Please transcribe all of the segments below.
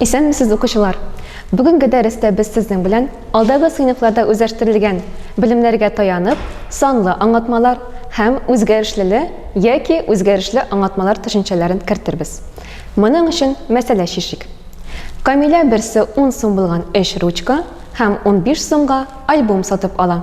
Исәнмесез, укучылар! Бүгенге дәрестә без сезнең белән алдагы сыйныфларда үзләштерелгән белемнәргә таянып, санлы аңлатмалар һәм үзгәрешлеле яки үзгәрешле аңлатмалар төшенчәләрен кертербез. Моның өчен мәсьәлә чишик. Камилә берсе ун сум булган өч ручка һәм унбиш сумга альбом сатып ала.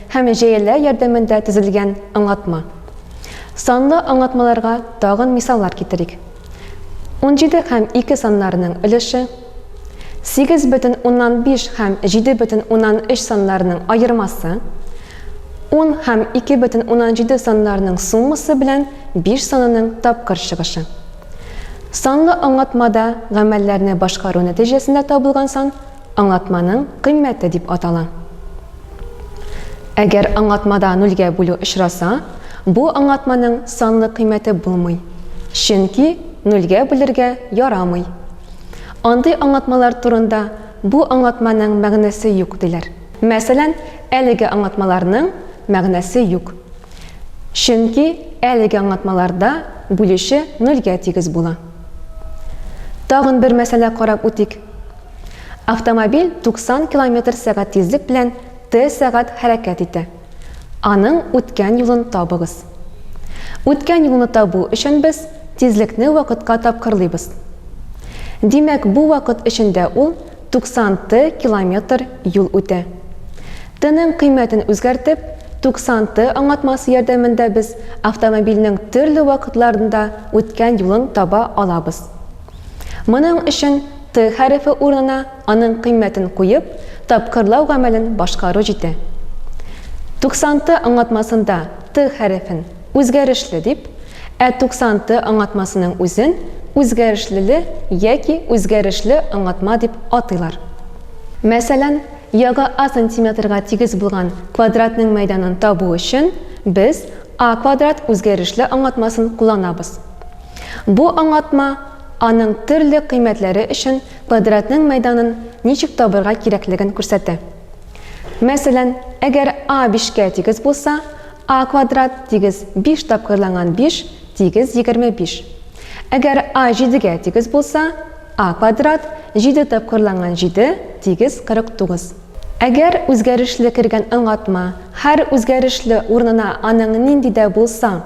Һәм җәяләр ярдәмендә төзелгән аңлатма. Санлы аңлатмаларга тагын мисаллар китерик. Унҗиде һәм ике саннарының өлеше, сигез бөтен уннан биш һәм җиде бөтен уннан өч саннарының аермасы, ун һәм ике бөтен уннан җиде саннарының суммасы белән биш санының тапкыр чыгышы. Санлы аңлатмада гамәлләрне башкару нәтиҗәсендә табылган сан Аңлатманың кыйммәте дип атала. Әгәр аңлатмада нульгә бүлү очраса, бу аңлатманың санлы кыйммәте булмый, чөнки нульгә бүлергә ярамый. Андый аңлатмалар турында бу аңлатманың мәгънәсе юк диләр. Мәсәлән, әлеге аңлатмаларның мәгънәсе юк, чөнки әлеге аңлатмаларда бүлүче нульгә тигез була. Тагын бер мәсьәлә карап үтик. Автомобиль 90 километр сәгать тизлек белән Т сәгать хәрәкәт итә. Аның үткән юлын табыгыз. Үткән юлны табу өчен без тизлекне вакытка тапкырлыйбыз. Димәк, бу вакыт эчендә ул 90 Т километр юл үтә. Тның кыйммәтен үзгәртеп, 90 Т аңлатмасы ярдәмендә без автомобильнең төрле вакытларында үткән юлын таба алабыз. Моның өчен Т хәрефе урынына аның кыйммәтен куеп, тапкырлау гамәлен башкару җитә. 90 Т аңлатмасында Т хәрефен үзгәрешле дип, ә 90 Т аңлатмасының үзен үзгәрешлеле яки үзгәрешле аңлатма дип атыйлар. Мәсәлән, ягы А сантиметрга тигез булган квадратның мәйданын табу өчен без А квадрат үзгәрешле аңлатмасын кулланабыз. Бу аңлатма аның төрле кыйммәтләре өчен квадратның мәйданын ничек табырга кирәклеген күрсәтә. Мәсәлән, әгәр a бишкә тигез булса, a квадрат тигез биш тапкырланган биш тигез егерме биш. Әгәр a җидегә тигез булса, a квадрат җиде тапкырланган җиде тигез кырык тугыз. Әгәр үзгәрешле кергән аңлатма һәр үзгәрешле урынына аның нинди дә булса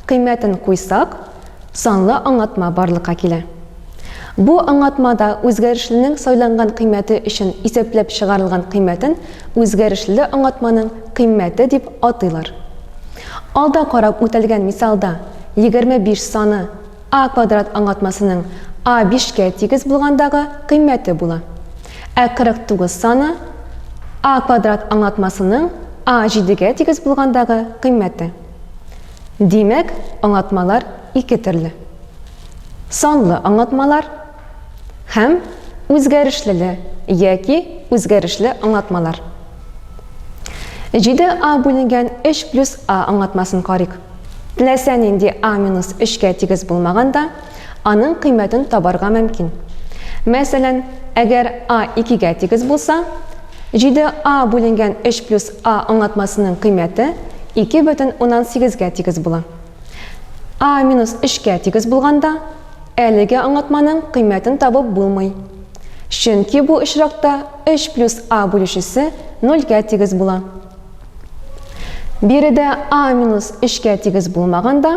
кыйммәтен куйсак, санлы аңлатма барлыкка килә. Бу аңлатмада үзгәрешленең сайланган кыйммәте өчен исәпләп чыгарылган кыйммәтен үзгәрешле аңлатманың кыйммәте дип атыйлар. Алда карап үтәлгән мисалда 25 саны a квадрат аңлатмасының a бишкә тигез булгандагы кыйммәте була. Ә 49 саны a квадрат аңлатмасының a җидегә тигез булгандагы кыйммәте. Димәк, аңлатмалар ике төрле. Санлы аңлатмалар һәм үзгәрешлеле яки үзгәрешле аңлатмалар. 7а бүленгән 3 плюс а аңлатмасын карыйк. Теләсә нинди а минус 3 кә тигез булмаганда, аның кыйммәтен табарга мөмкин. Мәсәлән, әгәр a икегә тигез булса, 7a бүленгән 3 плюс a аңлатмасының кыйммәте 2 бөтен уннан сигезгә тигез була. a минус 3кә тигез булганда, әлеге аңлатманың кыйммәтен табып булмый. Чөнки бу очракта 3 плюс a бүлүчесе нольгә тигез була. Биредә а минус 3-кә тигез булмаганда,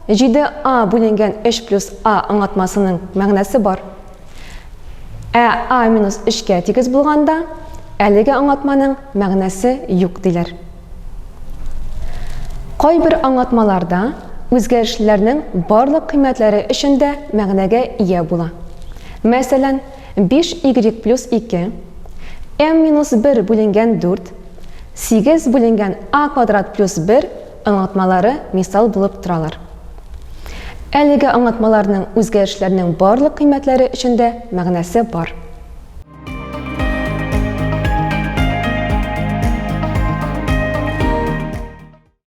7а бүленгән 3 плюс а аңлатмасының мәгънәсе бар. Ә а минус 3-кә тигез булганда, әлеге аңлатманың мәгънәсе юк диләр. Кайбер аңлатмаларда үзгәрешлеләрнең барлык кыйммәтләре өчен дә мәгънәгә ия була. Мәсәлән, Биш игрек плюс ике, м минус бер бүленгән дүрт, сигез бүленгән а квадрат плюс бер аңлатмалары мисал булып торалар. Әлеге аңлатмаларның үзгәрешләрнең барлык кыйммәтләре өчен дә мәгънәсе бар.